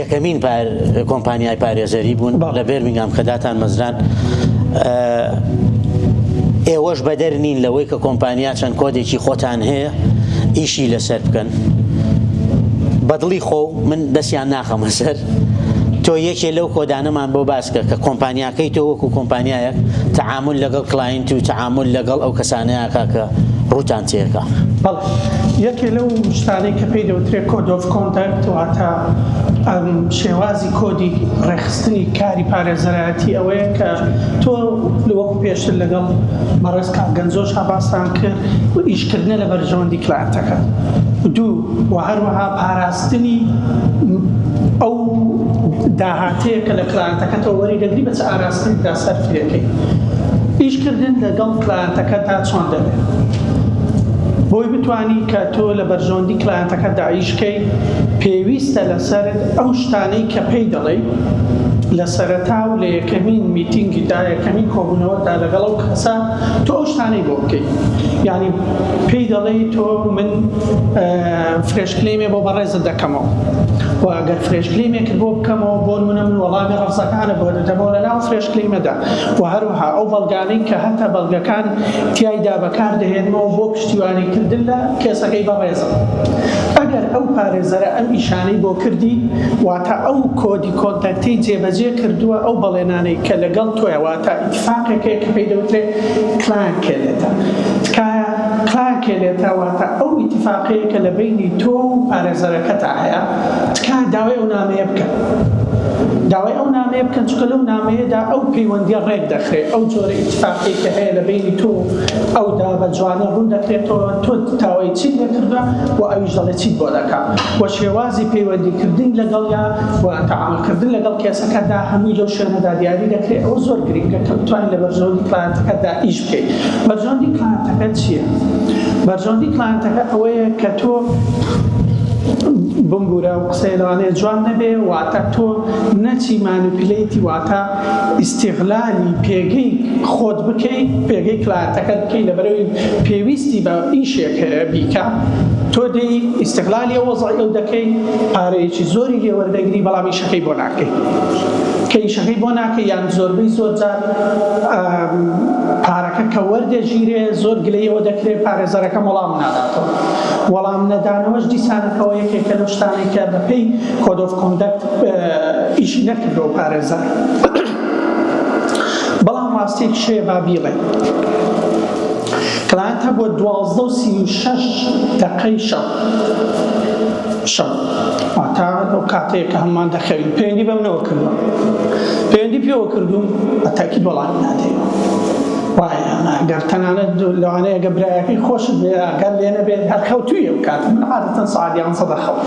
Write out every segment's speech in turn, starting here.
یەکەمین کۆمپانیای پارێزەری بوون لە بێرمینگام کە داتان مەزران ئێوەش بەدەر نین لەوەی کە کۆمپانیا چەند کۆدێکی خۆتان هەیە ئیشی لەسەر بکەن بەدڵی خۆ من دەستیان ناخەمە سەر تۆ یەکێ لەو کۆدانەمان بۆ باسکە کە کۆمپانیا کەی تۆ وەکو کۆمپانیایەک تەعامل لەگەڵ کلاینت و تەعامل لەگەڵ ئەو کەسانەیەکە کە ڕووتان تێکە؟ بەڵ یەکێ لەو شتانەی کە پێی دەوترێت کۆد ئۆف کۆندەکت واتە ئەم شێوازی کۆدی ڕێخستنی کاری پارێزەرایەتی ئەوەیە کە تۆ لەوەکو پێشتر لەگەڵ بەڕێز کارگەنجۆش هاباستان کرد و ئیشکردنە لە بەرژەوەندی کلانتەکە دوو و هەروەها پاراستنی ئەو داهات تێکە لە کلایەنتەکەتەوە وەری دەگری بە چ ئاراستەیەکدا سەرفی دەکەی ئیش کردن لەگەڵ کلایەنتەکەتدا چۆن دەبێت بۆی بتانی کە تۆ لە بەرژەوەندی کلایەنتەکە داعیشکەی پێویستە لەسەر ئەو شتانەی کە پێی دەڵێ لە سەرەتا و لە یەکەمین میتینگیدا یەکەمین کۆبوونەوەدا لەگەڵ ئەو کەسە تۆ ئەو شتانەی بۆ بکەیت ینی پێی دەڵێ تۆ من فرێشکلێمێ بۆ بەڕێزت دەکەم و ئەگەر فرێش کلەیمێکت بۆ بکەمەوە بۆ نمونە من وەڵامی ڕەفزەکانە بۆ دەدەمەوە لە ناو فرێش کلەیمەدا و هەروها ئەو بەڵگانەی کە هەتە بەڵگەکان تیایدا بەکار دەهێنمەوە بۆ پشتیوانی کردن لە کێسەکەی بەڕێزم ئەگەر ئەو پارێزەرە ئەم ئیشانەی بۆ کردی واتە ئەو کۆدی کۆنتەکتی جێبەجێ کردووە ئەو بەڵێنانەی کە لەگەڵ تۆیە واتە ئیتفاقێکەیە کە پێی دەوترێت کلایان کێلێتە تکایە کلارکێنێتە واتە ئەو ئیتیفاقەیە کە لە بەینی تۆ و پارێزەرەکەتا هەیە تکایە داوای ئەو نامەیە بکەن داوای ئەو نامەیە بکەن چکە لەو نامەیەدا ئەو پەیوەندیە ڕێک دەخرێت ئەو جۆرە ئیتفاقی کە هەیە لە بینی تۆ ئەو دا بە جوانە ڕوون دەکرێتەوە تۆ تاوای چی لێکردە و ئەویش دەڵێ چی بۆ دەکە و شێوازی پەیوەندیکردن لەگەڵیا و تەعاملکردن لەگەڵ کێسەکەدا هەمووی لەو شوێنەدا دیاری دەکرێت ئەو زۆر گرنگە کە بتوانین لە بەرژەوەندی کلانتەکەدا ئیش بەرژەوەندی کلاینتەکەت چییە؟ بەرژەوەندی کلاینتەکە ئەوەیە کە تۆ بمبورە و قسەی لەوانەیە جوان نەبێ واتە تۆ نەچی مانوپلەیتی واتە ئیسیغلالی پێگەی خۆت بکەی پێگەی کلاتەکە بکەی لە بەرەوەی پێویستی بە ئیشێک هەیە بیکە تۆ دەی ئیسیغلالی وەزای ئەو دەکەی پارەیەکی زۆری لێوەردەگری بەڵام ئیشەکەی بۆ ناکەی کە ئیشەکەی بۆ ناکەی یان زۆربەی زۆر جار پارەکە کە وەردەگیرێ زۆر گلەی ئەوە دەکرێ پارێزەرەکەم وەڵام ناداتەوە وەڵام نەدانەوەش دیسانەکەەوە یەکێکە لە شتانێک کە بەپی کۆدۆف کۆندەکت ئیشی نەکردەوە پارێزەر بەڵام ڕاستێک شێ با بیڵێ کلانتە بۆ دوازدە و سی و شەش دەقەی شەو شەو واتا ئەو کاتەیە کە هەممان دەخەوین پەیوەندی بەم نەوە کردووە پەیوەندی پێوە کردووم بە تاکی بەڵام نادەین وایە گەر تەنانەت لەوانەیە گە برایەکەی خۆش گەر لێ نەبێت هەر خەوتوی ئەو کات من عادەتەن سعادیان سەدە خەوت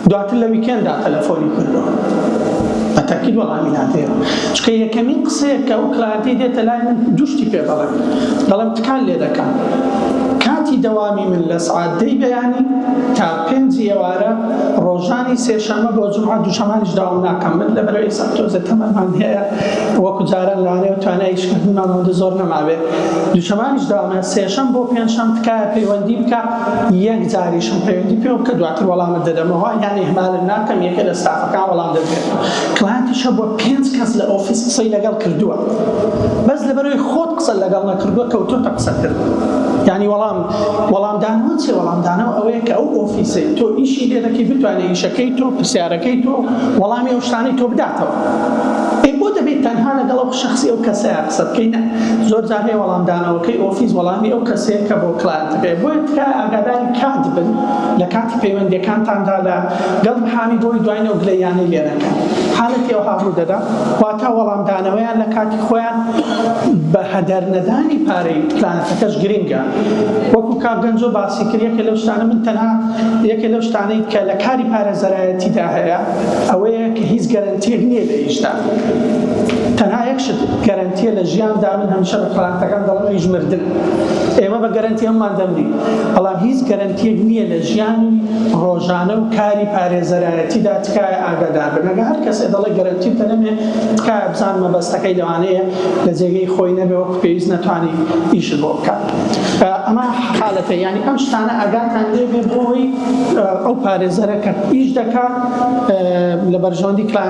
دواتر لە ویکێندا تەلەفۆنی کردووە بە تەکید وەڵامی نادەیەوە چکە یەکەمین قسەیەک کە ئەو کلایەنتی دێتە لای من دوشتی پێ دەڵێم دەڵێم تکان لێ دەکەم کاتی دەوامی من لە سعات دەی بەیانی تا پێنجی ئێوارە ڕۆژانی سێشەمە بۆ جمعە دوشەمانیش داوام ناکەم من لە بەرەوەی سەتۆزە تەمەمان هەیە وەکو جاران لەوانەیە و توانایشکردنمان هەندە زۆر نەماوێت دوشەمانیش داوامە سێشەم بۆ پێنجشەم تکایە پەیوەندی بکە یەک جاریشم پەیوەندی پێوە بکە دواتر وەڵامت دەدەمەوە یان ئیهمالت ناکەم یەکێ لە ستافەکان وەڵام دەدرێتەوە کلاینتیش هەبووە پێنج کەس لە ئۆفیس قسەی لەگەڵ کردووە بەس لەبەرەوەی خۆت قسە لەگەڵ نەکردووە کەوتۆتە قسە کرد یانی وەڵام وەڵام دانەوە چێ وەڵام دانەوە ئەوەیە کە ئەو ئۆفیسەی تۆ ئیشی لێ دەکەی بتوانێت ئیشەکەی تۆ پرسیارەکەی تۆ وەڵامی ئەو شتانەی تۆ بداتەوە ئەی بۆ دەبێت تەنها لەگەڵ ئەو شەخسی ئەو کەسەیە قسە بکەی نە زۆر جار هەیە وەڵام دانەوەکەی ئۆفیس وەڵامی ئەو کەسەیە کە بۆ کلایەنتەکەیە بۆیە تکایە ئاگاداری کات بن لە کاتی پەیوەندیەکانتاندا لە گەڵ محامی بۆی دوای نەو گلەییانەی لێ نەکەن حالەتی ئەوها ڕوو دەدا واتا وەڵام دانەوەیان لە کاتی خۆیان بە هەدەر نەدانی پارەی کلایەنتەکەش گرنگە وەکو کاک گەنجۆ باسی کرد یەکێ لەو شتانە من تەنها یەکێ لەو شتانەی کە لە کاری پارێزەرایەتیدا هەیە ئەوەیە کە هیچ گەرەنتیەک نییە لە ئیشدا تەنها یەک شت گەرەنتیە لە ژیاندا من هەمیشە بە پلانتەکان دەڵم هیچ مردن ئێمە بە گەرەنتی هەممان دەمری بەڵام هیچ گەرەنتیەک نییە لە ژیان ڕۆژانە و کاری پارێزەرایەتیدا تکایە ئاگادار بنەگە هەر کەسێ دەڵێ گەرەنتی تەنەمێ تکایە بزان مەبەستەکەی لەوانەیە لە جێگەی خۆی نەبێ وەک پێویست نەتوانانی ئیش بۆ بکات ئەمە حالەتە ینی ئەم شتانە ئاگاتان لێ بۆی ئەو پارێزەرەکە ئیش دەکات لە بەرژەوەندی کلان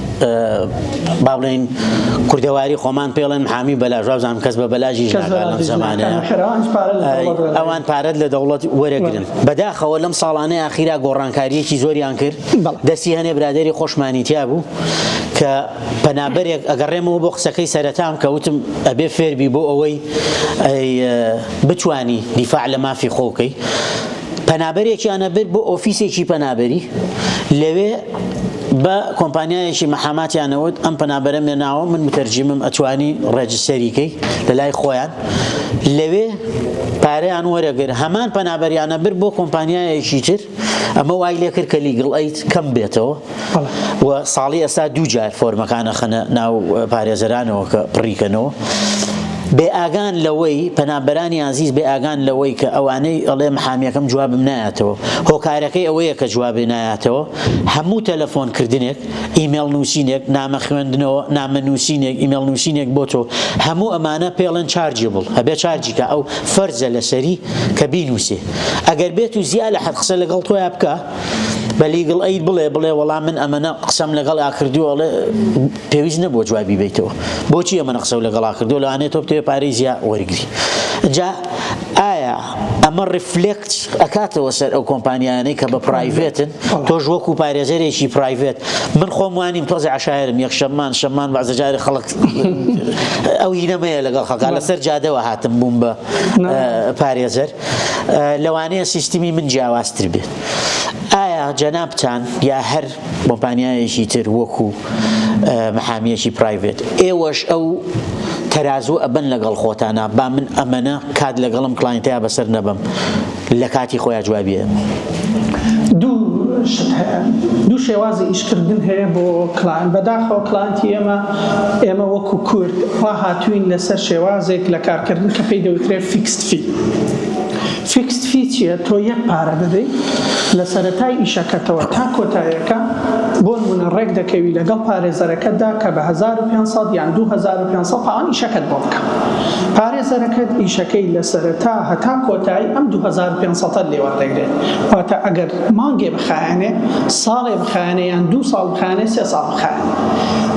با بڵێن کوردەواری خۆمان پێڵێن حامی بەلاژ وابزانم کەس بە بەلاژی ئەوان پارەت لە دەوڵەت وەرەگرن بەداخەوە لەم ساڵانە یاخیرا گۆڕانکاریەکی زۆریان کرد دەستی هەنێ برادری خۆشمانی تیا بوو کە پەنابەرێک ئەگەڕێمەوە بۆ قسەکەی سەرەتام کە وتم ئەبێ فێربی بۆ ئەوەی بتانی دیفاع لە مافی خۆکەی پەنابەرێکیانە بر بۆ ئۆفیسێکی پەنابەری لەوێ بە کۆمپانیایەکی مەحاماتیان نەوت ئەم پەنابەرە مێناوە من متەرجیمم ئەتوانی ڕێجستەری کەی لە لای خۆیان لەوێ پارەیان وەرەگر هەمان پەنابەریانە بر بۆ کۆمپانیایەکی تر ئەمە وای لێ کرد کە لیگڵ ئەیت کەم بێتەوە و ساڵی ئێستا دوو جار فۆرمەکانە خەنە ناو پارێزەرانەوە کە پڕیکەنەوە بێ ئاگان لەوەی پەنابەرانی ئازیز بێ ئاگان لەوەی کە ئەوانەی ئەڵێ محامیەکەم جوابم نایەتەوە هۆکارەکەی ئەوەیە کە جوابێ نایەتەوە هەموو تەلەفۆن کردنێک، ئیمێڵ نووسینێک، نامە خوێندنەوە، نامە نووسینێک، ئیمێڵ نووسینێک بۆ تۆ، هەموو ئەمانە پێڵێن چارجێبڵ، ئەبێ چارجی کا، ئەو فەرزە لەسەری کە بینووسێ. ئەگەر بێت و زیا لە حەد قسە لەگەڵ تۆیا بکا، بە لیگڵ ئەید بڵێ، بڵێ وەڵا من ئەمەنە قسەم لەگەڵا کردووە، ئەڵێ پێویست نەبووە جوابی بەیتەوە، بۆچی ئەمەنە قسەو لەگەڵا کردووە، لەوانەیە تۆ بتەوێ پارەی زیا وەرگری. ئینجا ئایا. ئەمە ڕیفلێکت ئەکاتەوە سەر ئەو کۆمپانیانەی کە بە پرایڤێتن تۆش وەکو پارێزەرێکی پرایڤێت من خۆم وانیم تۆزی عشاعرم یەک شەممان شەممان بەزجاری خەڵک ئەو هینەمەیە لەگەڵ خەکان لەسەر جادەوە هاتم بووم بە پارێزەر لەوانەیە سیستمی من جیاوازتر بێت ئایا جەنابتان یا هەر کۆمپانیایەکی تر وەکو محامیەکی پرایڤێت ئێوەش ئەو تەرازوو ئەبەن لەگەڵ خۆتانا با من ئەمەە کات لەگەڵم کلاینتەیە بەسەر نەبم لە کاتی خۆیان جوابیە دوو شێوازی ئیشکردن هەیە بۆ کلان بەداخەوە کلانتی ئێمە ئێمە وەکو کورد ڕاهاتوین لەسەر شێوازێک لە کارکردن کە پێی دەوترێت فیکست فی فیکست فی چیە تۆ یەک پارە دەدەی لەسەرەتای ئیشەکەتەوە تا کۆتایەکە بۆنمونە ڕێک دەکەوی لەگەڵ پارێزەرەکەتدا کە بە هەزار و پێنج سەد یان دوو هەزار و پێنج سەد پاوەن ئیشەکەت بۆ بکا پارێزەرەکەت ئیشەکەی لەسەرەتا هەتا کۆتایی ئەم دوو هەزار و پێنج سەدەت لێ وەردەگرێت واتە ئەگەر مانگێ بخایەنێ ساڵێ بخایەنێ یان دوو ساڵ بخایەنێ سێ ساڵ بخایەنێ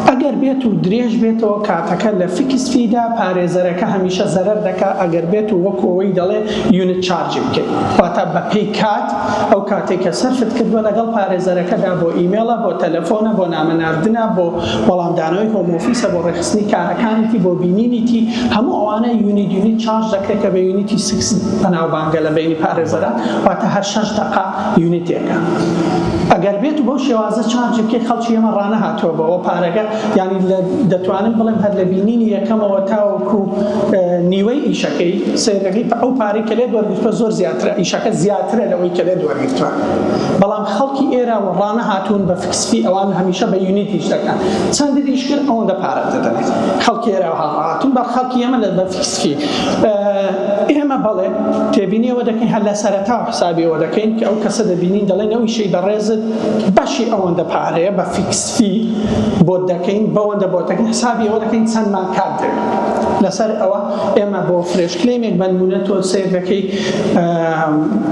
ئەگەر بێت و درێژ بێتەوە کاتەکە لە فیکس فیدا پارێزەرەکە هەمیشە زەرەر دەکا ئەگەر بێت و وەکو ئەوەی دەڵێ یونت چارجی بکەی واتە بەپێی کات ئەو کاتێک کە سەرفت کردووە لەگەڵ پارێزەرەکەدا بۆ ئیمێڵە بۆ تەلەفۆنە بۆ نامە ناردنە بۆ وەڵامدانەوەی هۆم ئۆفیسە بۆ ڕێکخستنی کارەکانیتی بۆ بینینیتی هەموو ئەوانە یونیت یونیت چارج دەکرێت کە بە یونیتی سکس بەناوبانگە لە بینی پارێزەران واتە هەر شەش دەقە یونیتێکە ئەگەر بێت و بەو شێوازە چارجەکەی خەڵکی ئێمە ڕانەهاتووە بەوە پارەکە یانی لە دەتوانم بڵێم هەر لە بینینی یەکەمەوە تاوەکو نیوەی ئیشەکەی سێرەکەی ئەو پارەی کە لێت وەرگرتوە زۆر زیاترە ئیشەکە زیاترە لەوەی کە لێت وەرگرتوە بەڵام خەڵکی ئێرە و ڕانەهاتوون بە فکسفی ئەوان هەمیشە بە یونیت ئیش دەکەن چەند ئیش کرد ئەوەندە پارەت دەدەنێت خەڵکی ئێرە هاڕاتون بە خەڵکی ئێمە لە بە فکسفی ئێمە بەڵێ تێبینیەوە دەکەین هەر لە سەرەتاوە حسابیەوە دەکەین کە ئەو کەسە دەبینین دەڵێین ئەو ئیشەی بەڕێزت بەشی ئەوەندە پارەیە بە فیکس فی بۆت دەکەین بەوەندە بۆت دەکەین حسابی ئەوە دەکەین چەند مان کات دەوێت لەسەر ئەوە ئێمە بۆ فرێش کلێمێک بەنمونە تۆ سێر دەکەی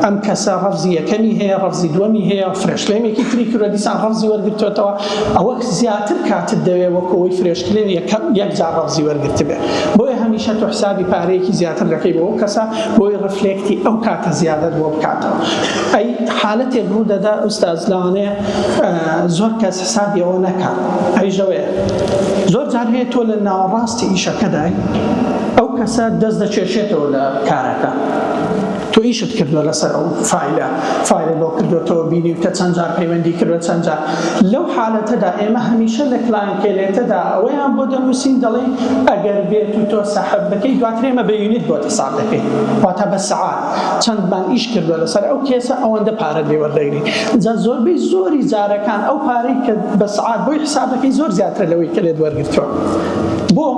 ئەم کەسە ڕەفزی یەکەمی هەیە ڕەفزی دووەمی هەیە فرێشلێمێکی تری کرۆدیسان ڕەفزی وەرگتوێتەوە ئەوەک زیاتر کاتت دەوێ وەکو ئەوەی فرێشکلێر یەکەم یەک جار رەمزی وەرگرتبێ بۆیە هەمیشە تۆ حسابی پارەیەکی زیاتر دەکەی بۆ ئەو کەسە بۆی رفلێکتی ئەو کاتە زیادەت بۆ بکاتەوە ئەی حالەتێک روو دەدا ئوستاز لەوانەیە زۆر کەس حسابی ئەوە نەکا ئەویش لەوەیە زۆر جار هەیە تۆ لە ناوەڕاستی ئیشەکەدای ئەو کەسە دەست دەکێشێتەوە لە کارەکە تۆ ئیشت کردوە لەسەر ئەو فایلە فایلە لۆ کردۆتەوە بینیوتە چەند جار پەیوەندی کردوە چەند جار لەو حالەتەدا ئێمە هەمیشە لە کلانکێلێتەدا ئەوەیان بۆ دەنووسین دەڵێین ئەگەر بێت و تۆ سەحب بکەی دواتر ئێمە بە یونیت بۆ حساب دەکەین واتە بە سەعات چەندمان ئیش کردوە لەسەر ئەو کێسە ئەوەندە پارە لێ وەردەگری جا زۆربەی زۆری جارەکان ئەو پارەی کە بە سەعات بۆی حساب دەکەی زۆر زیاترە لەوەی کە لێت وەرگرتووە بۆ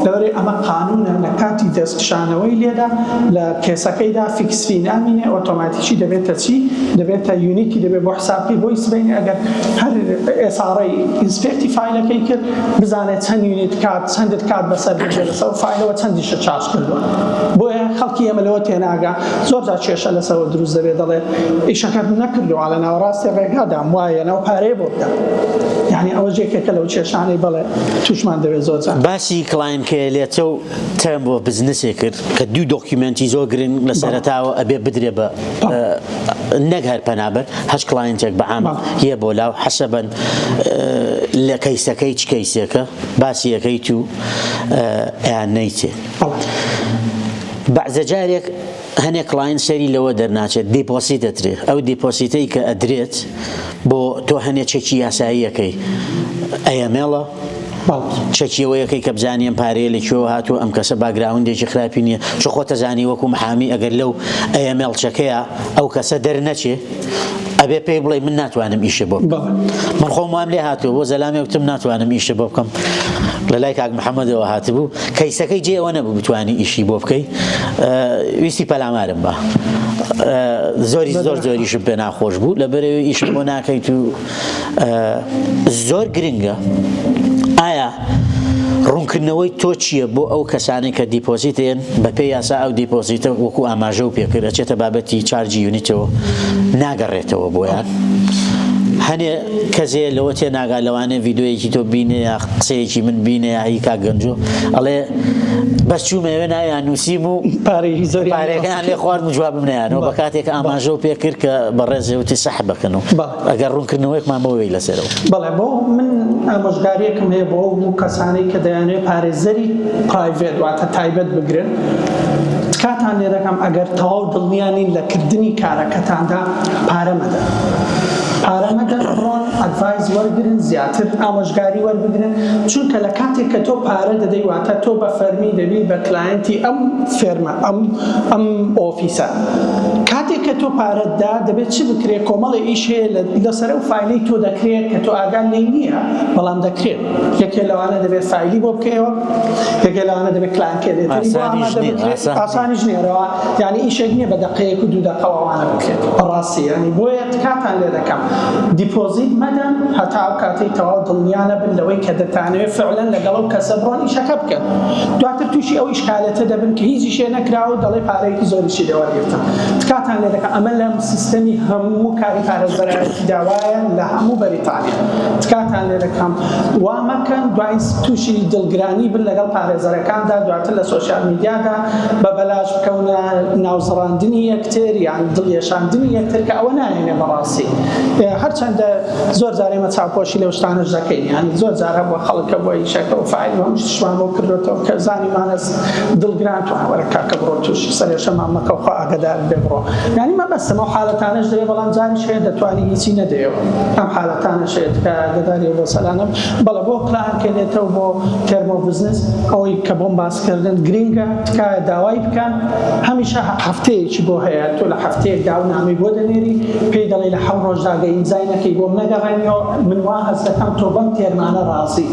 لەوەرەی ئەمە قانونە لە کاتی دەستکشانەوەی لێدا لە کێسەکەیدا فیکسفی نامینێ ئۆتۆماتیکی دەبێتە چی دەبێتە یونیکی دەبێت بۆ حسابکەی بۆی سبەینێ ئەگەر هەر ئێساڕی ئینسپێکتی فایلەکەی کرد بزانێت چەند یونیت کات چەندت کات بەسەر بێت لەسەر فایلەوە چەندیشە چارج کردووە بۆیە خەڵکی ئێمە لەوە تێناگا زۆر جا کێشە لەسەوە دروست دەبێت دەڵێت ئیشەکەت نەکردووە لە ناوەڕاستی ڕێگادام وایە ناو پارەیە بۆ بدەم یعنی ئەوە جێکێکە لەو کێشانەی بەڵێ توشمان دەبێت زۆر جا باسی کڵاینکەیە لێچە و ترەمپ بۆ بزنسێ کرد کە دوو دۆکیومنتی زۆر گرنگ لە سەرەتاوە ئەبێ بدرێ بە نەک هەر پەنابەر هەش کلاینتێک بە عام یە بۆ لاو حەسەبەن لە کەیسەکەی چ کەیسێکە باسی یەکەی تو یان نەیتێ بەعزە جارێک هەنێ کڵاینت سەیری لەوە دەرناچێت دیپۆسیت ئەدرێ ئەو دیپۆسیتەی کە ئەدرێت بۆ تۆ هەنێ چەکی یاساییەکەی ئەیەمێڵە چەکیەوەیەکەی کە بزانیم پارەیە لە کوێوە هاتوو ئەم کەسە باگراوندێکی خراپی نییە چ خۆتە زانی وەکو محامی ئەگەر لەو ئەیەمێڵچەکەیە ئەو کەسە دەرنەچێ ئەبێ پێی بڵێ من ناتوانم ئیشە بۆ بکەم من خۆم وام لێ هاتوو بۆ زەلامی وتم ناتوانم ئیشە بۆ بکەم لە لای کاک محەممەدەوە هاتبوو کەیسەکەی جێ ئەوە نەبوو بتانی ئیشی بۆ بکەی ویستی پەلامارم بە زۆری زۆر زۆریشم پێ ناخۆش بوو لە بەرەوەی ئیشم بۆ ناکەیت و زۆر گرنگە ئایا ڕوونکردنەوەی تۆ چییە بۆ ئەو کەسانی کە دیپۆزیتێن بەپێ یاسا ئەو دیپۆزیتە وەکو ئاماژە و پێکرد ئەچێتە بابەتی چارجی یونیتەوە ناگەڕێتەوە بۆیان هەنێ کەزێ لەوە تێ ناگا لەوانێ یددیوەیەکی تۆ بینێ یا قسەیەکی من بینێ یاهی کا گەنجۆ ئەڵێ بەس چوومەوێ ناویان نووسیم و پارەی زۆریان لێ خوارد جوابم نیانەوە بە کاتێک ئاماژە و پێ کرد کە بەڕێزێوتی سەح بکەن و ئەگەر ڕوونکردنەوەیەکمان بۆ وێی لەسەرەوە. بەڵێ بۆ من ئامۆژگاریەکم هەیە بۆ ئەو کەسانەی کە دەیانێت پارێزەری پرایڤێت واتە تایبەت بگرن تکاتان لێ دەکەم ئەگەر تەواو دڵنیا نین لە کردنی کارەکەتاندا پارە مەدەن. پارە مەدەن بڕۆن ئەدڤایز وەرگرن زیاتر ئامۆژگاری وەربگرن چونکە لە کاتێک کە تۆ پارە دەدەی واتە تۆ بە فەرمی دەبی بە کلاینتی ئەم فێرمە ئەم ئەم فیسا کاتێک کە تۆ پارەت دا دەبێت چ بکرێت کۆمەڵی ئیش هەیە لەسەر ئەو فیلی تۆ دەکرێت کە تۆ ئاگان لی نییە بەڵام دەکرێت یەکێ لەوانە دەبێت فیلی بۆ بکەیەوە یەکێ لەوانە دەبێت کلانکێ دێت ئاسانی ژنێرەوە یعنی ئیشێک نییە بە دەقەیەک و دوو دەقەوانە بکرێت بەڕاستی ینی بۆیە کاتان لێ دەکەم دیپۆزیت مەدەن هەتا ئەو کاتی تەواو دڵنیانە بن لەوەی کە دەتانەوێت فعلەن لەگەڵ ئەو کەسە بڕۆن ئیشەکە بکەن دواتر تووشی ئەو حالەتە دەبن کە هیچی شێ نەکراوە و دەڵێ پارەیەکی زۆریشی لێ وەرگرتم تکاتان لێ دەکەم ئەمە لە سیستەمی هەموو کاری پارێزبەرایەتیدا وایە لە هەموو بەریتانیا تکاتان لێ دەکەم وا مەکەن دوای تووشی دڵگرانی بن لەگەڵ پارێزەرەکاندا دواتر لە سۆشیال میدیادا بە بەلاش بکەونە ناوزڕاندنی یەکتر یان دڵیەشاندنی یەکتر کە ئەوە نایەنێ بەڕاستی هەرچەندە زۆر جار ئێمە چاوپۆشی لەو شتانەش دەکەین یانی زۆر جار هەبووە خەڵک کە بۆ ئیشەکە و فایل و هەم شتشمان بۆ کردوێتەوە کە زانیمانەس دڵگران تو وەرە کاکە بڕۆ توش سەرێشەمان مەکە و خوا ئاگەدارت بێ بڕۆ یانی مەبەستم ئەو حالەتانەش دەوێ بەڵام جاریش هەیە دەتوانی هیچی نەدەیەوە ئەم حالەتانەش هەیە تکایە ئاگەداری بۆ سەلانەم بەڵێ بۆ پلان کەێتەوە بۆ تێرمۆ بزنس ئەوەی کە بۆم باسکردن گرینگە تکایە داوای بکە هەمیشە هەفتەیەکی بۆ هەیە تۆ لە هەفتەیەک داو نامەی بۆ دەنێری پێی دەڵێ لە حەو ڕۆژدا گە ئیمزای نەکەی بۆم نەگەڕێنیەوە من وا هەست دەکەم تۆ بەم تێرمانە ڕازی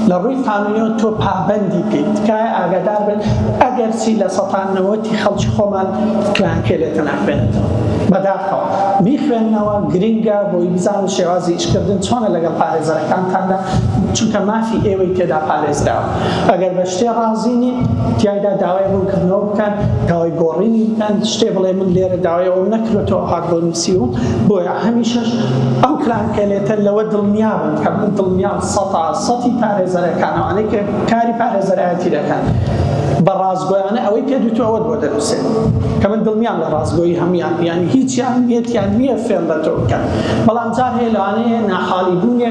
لە ڕووی قانونیەوە تۆ پابەندی پێی تکایە ئاگادار بن ئەگەر چی لە سەتان نەوەتی خەڵکی خۆمان کلان کێ لێتە ناخوێنێتەوە بەداخەوە بیخوێنەوە گرنگە بۆی بزان شێوازی ئیشکردن چۆنە لەگەڵ پارێزەرەکانتاندا چونکە مافی ئێوەی تێدا پارێزراوە ئەگەر بە شتێ ڕازی نین تیایدا داوای ڕوونکردنەوە بکەن داوای گۆڕینی بکەن شتێ بڵێ من لێرە داوای ئەوم نەکرێتەوە هاک بۆ نووسیوم بۆیە هەمیشەش ئەو کلانکەلێتە لەوە دڵنیا بن کە من دڵنیام سەتا سەتی پارێزەرەکان ئەوانەی کە کاری پارێزەرایەتی دەکەن بە ڕازگۆیانە ئەوەی پێ دوتو ئەوەت بۆ دەنووسێت کە من دڵنیام لە ڕازگۆی هەموان یانی هیچیان نیەتیان نییە فێن بە تۆ بکەن بەڵام جار هەیە لەوانەیە ناحاڵی بوونێ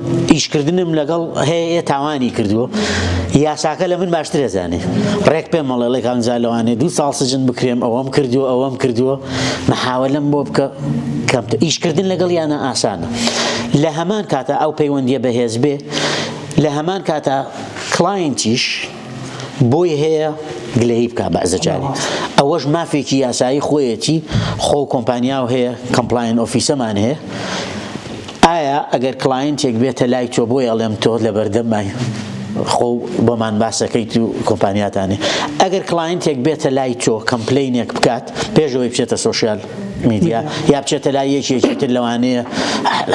ئیشکردنم لەگەڵ هەیە تاوانی کردووە یاساکە لە من باشتر ئەزانێ ڕێک پێم مەڵێ ڵێک ئەنجا لەوانێ دوو ساڵ سجن بکرێم ئەوەم کردووە ئەوەم کردووە محاولم بۆ بکە کەمتە ئیشکردن لەگەڵ یانە ئاسانە لە هەمان کاتە ئەو پەیوەندیە بەهێز بێ لە هەمان کاتە کلاینتیش بۆی هەیە گلەیی بکا بەعزە جاری ئەوەش مافێکی یاسایی خۆیەتی خۆ کۆمپانیاو هەیە کەمپلاین ئۆفیسەمان هەیە ئایا ئەگەر کلاینتێک بێتە لای تۆ بۆی ئەڵێم تۆ لە بەردەمای خۆ بۆمان باسەکەیت و کۆمپانیاتانی ئەگەر کلاینتێک بێتە لای تۆ کەمپلینێک بکات پێشەوەی بچێتە سوسیال میدیا یا بچێتە لای یەکێکی تر لەوانەیە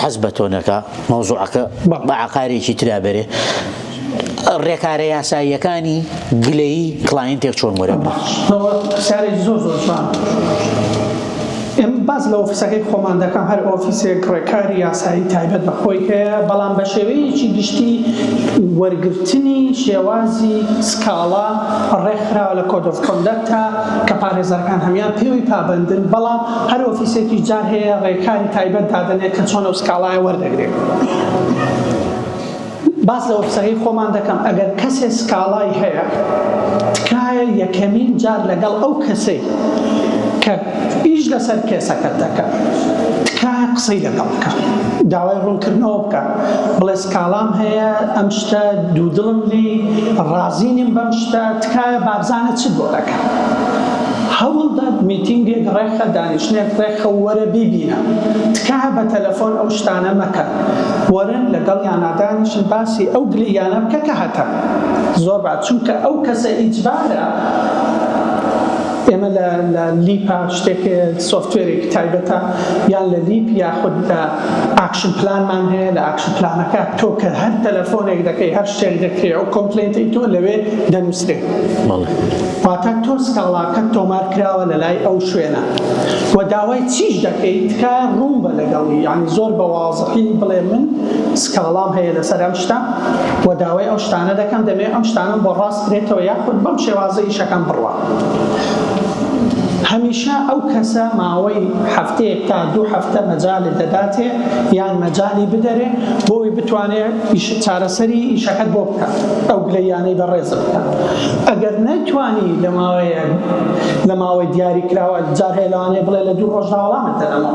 حەز بە تۆنەکە مەوزوعەکە بە عقارێکی ترابێ ڕێکارە یاساییەکانی گلەیی کلاینتێک چۆن وەرە پرسیارێک زۆر زۆر جوان ئێمە باز لە ئۆفیسەکەی خۆمان دەکەم هەر ئۆفیسێک ڕێکاری یاسایی تایبەت بە خۆی هەیە بەڵام بە شێوەیەکی گشتی وەرگرتنی شێوازی سکاڵا ڕێکخراوە لە کۆدۆف کۆندەکتە کە پارێزەرەکان هەمان پێوی پابندن بەڵام هەر ئۆفیسێکی جار هەیە ڕێکاری تایبەت دادنێت کە چۆنە و سکاڵایە وەردەگرێت. باس لە وەبسایەی خۆمان دەکەم ئەگەر کەسێ سکاڵای هەیە تکایە یەکەمین جار لەگەڵ ئەو کەسەی کە ئیش لەسەر کێسەکەت دەکا تکایە قسەی لەگەڵ بکە داوای ڕوونکردنەوە بکە بڵێ سکاڵام هەیە ئەم شتە دوو دڵم لی ڕازی نیم بەم شتە تکایە بابزانە چ بۆ دەکە هەوڵدە میتینگێک ڕێکخە دانیشتنێک ڕێکخە و وەرە بیبینە تکایە بە تەلەفۆن ئەو شتانە مەکە وەرە لەگەڵیانا دانیشن باسی ئەو گلەییانە بکە کە هەتە زۆر با چونکە ئەو کەسە ئیجبارە ئێمە لە لە لیپا شتێک سۆفتوێرێکی تایبەتە یان لە لیپ یاخود لە ئاکشن پلانمان هەیە لە ئاکشن پلانەکە تۆ کە هەر تەلەفۆنێک دەکەی هەر شتێک دەکرێ ئەو کۆمپلێنتی تۆ لەوێ دەنووسرێ واتە تۆ سکاڵاکەت تۆمار کراوە لە لای ئەو شوێنە و داوای چیش دەکەیت تکایە ڕوون بە لەگەڵی یعنی زۆر بەواو ڕاستی بڵێم من سکاڵام هەیە لەسەر ئەم شتە و داوای ئەو شتانە دەکەم دەمێ ئەم شتانم بۆ ڕاست بێتەوە یاخود بەم شێوازە ئیشەکەم بڕوا هەمیشە ئەو کەسە ماوەی هەفتەیەک تا دوو هەفتە مەجالی دەداتێ یان مەجای بدەرێ بۆی بتوانێت چارەسەری ئیشەکەت بۆ بکات ئەو گلەیانەی بەڕێز بکات ئەگەر نەیتوانی لە ماوەیە لە ماوەی دیاری کراوە جارهێلانێ بڵێ لە دوو ڕۆژداوەڵامت دەدەمەوە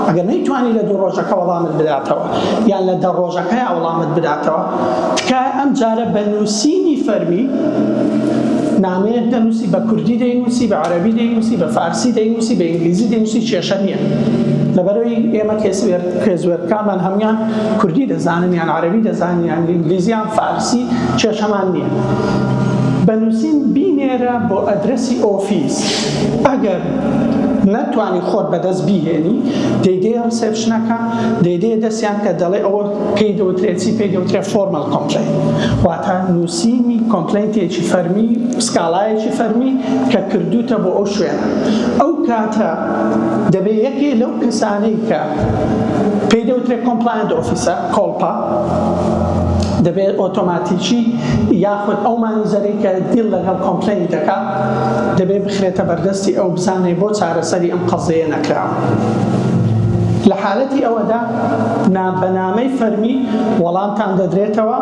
ئەگەر نەیتوانی لە دوو ڕۆژەکە وەڵامت بداتەوە یان لە دە ڕۆژەکەیا وەڵامت بداتەوە، تکایە ئەمجارە بە نووسینی فەرمی نامەیەک دەنووسی، بە کوردی دەینووسی، بە عەرەبی دەینووسی، بە فارسی دەینووسی، بە ئینگلیزی دەینووسی کێشە نییە. لەبەرئەوەی ئێمە کوێزوێرەکانمان هەموویان کوردی دەزانن یان عەرەبی دەزانن یان ئینگلیزی یان فارسی کێشەمان نییە. بە نووسین بینێرە بۆ ئەدرەسی ئۆفیس. ئەگەر نەتوانی خۆت بەدەست بیهێنی دەیدەیە ڕسێپشنەکە دەیدەیە دەستیان کە دەڵێ ئەوە پێی دەوترێت چی پێی دەوترێت فۆرمەڵ کۆمپلین واتە نووسینی کۆمپلینتێکی فەرمی سکاڵایەکی فەرمی کە کردوتە بۆ ئەو شوێن ئەو کاتە دەبێ یەکێ لەو کەسانەی کە پێی دەوترێت کۆمپلایند ئۆفیسە کۆڵپا دەبێت ئۆتۆماتیکی یاخود ئەو مانیزەرێکە دیل لەگەڵ کۆمپلین دەکات دەبێت بخرێتە بەردەستی ئەو بزانێت بۆ چارەسەری ئەم قەزەیە نەکراوە لە حالەتی ئەوەدا بەنامەی فەرمی وەڵامتان دەدرێتەوە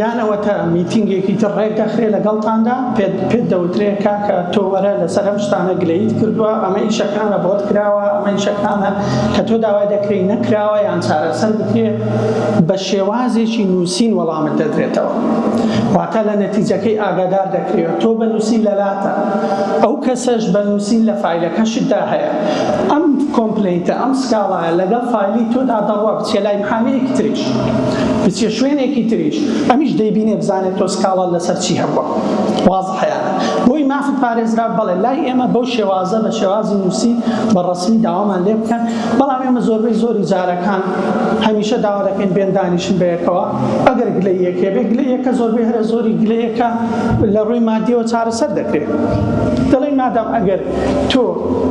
یانەوەتە میتینگێکی تر ڕێک دەخرێت لەگەڵتاندا پێت پێت دەوترێ کاکە تۆ وەرە لەسەر ئەم شتانە گلەیت کردووە ئەمە ئیشەکانە بۆت کراوە ئەمە ئیشەکانە کە تۆ داوای دەکرێت نەکراوە یان چارەسەر بکرێت بە شێوازێکی نووسین وەڵامت دەدرێتەوە. واتە لە نەتیجەکەی ئاگادار دەکرێت تۆ بە نووسین لە لاتە ئەو کەسەش بە نووسین لە فایلەکەشتدا هەیە ئەم کۆمپلینتە ئەم سکاڵایە لەگەڵ فایلی تۆدا دەڕوا بچێ لای محامەیەکی تریش بچێ شوێنێکی تریش ئەمیش دەیبینێ بزانێت تۆ سکاڵا لەسەر چی هەبووە واز حەیە بۆی مافت پارێزرا بەڵێ لای ئێمە بەو شێوازە بە شێوازی نووسین بە ڕسمی داوامان لێ بکەن بەڵام ئێمە زۆربەی زۆری جارەکان هەمیشە داوا دەکەین بێن دانیشن بەیەکەوە ئەگەر گلەی یەکێ بێ گلەی یەکە زۆربەی هەرە زۆری گلەی یەکە لە ڕووی مادیەوە چارەسەر دەکرێت دەڵێن مادام ئەگەر تۆ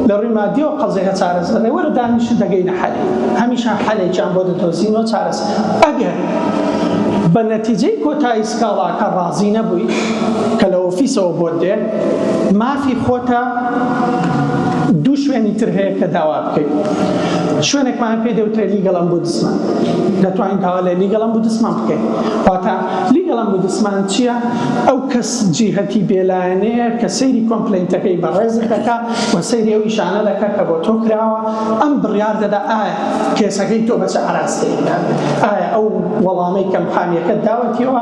لە ڕووی مادیەوە قەزێکە چارەسەر دەێ وەرە دانیشن دەگەینە حەلی هەمیشە حەلێکیان بۆ دەدۆزینەوە چارەسەر ئەگەر بە نەتیجەی کۆتایی سکاڵاکە ڕازی نەبووی کە لە ئۆفیسەوە بۆت دێ مافی خۆتە دوو شوێنی تر هەیە کە داوا بکەیت شوێنێکمان پێ دەوترێت لیگەڵ ئەمبودسمان دەتوانین داوا لە لیگەڵ ئەمبودسمان بکەین واتا لیگەڵ ئەمبودسمان چییە ئەو کەس جیهەتی بێلایەنەیە کە سەیری کۆمپلینتەکەی بە ڕێزت دەکا و سەیری ئەو ئیشانە دەکا کە بۆ تۆ کراوە ئەم بڕیار دەدا ئایا کێسەکەی تۆ بەچە ئاراستەیەکان ئایا ئەو وەڵامەی کەمپانیەکە داوەتیەوە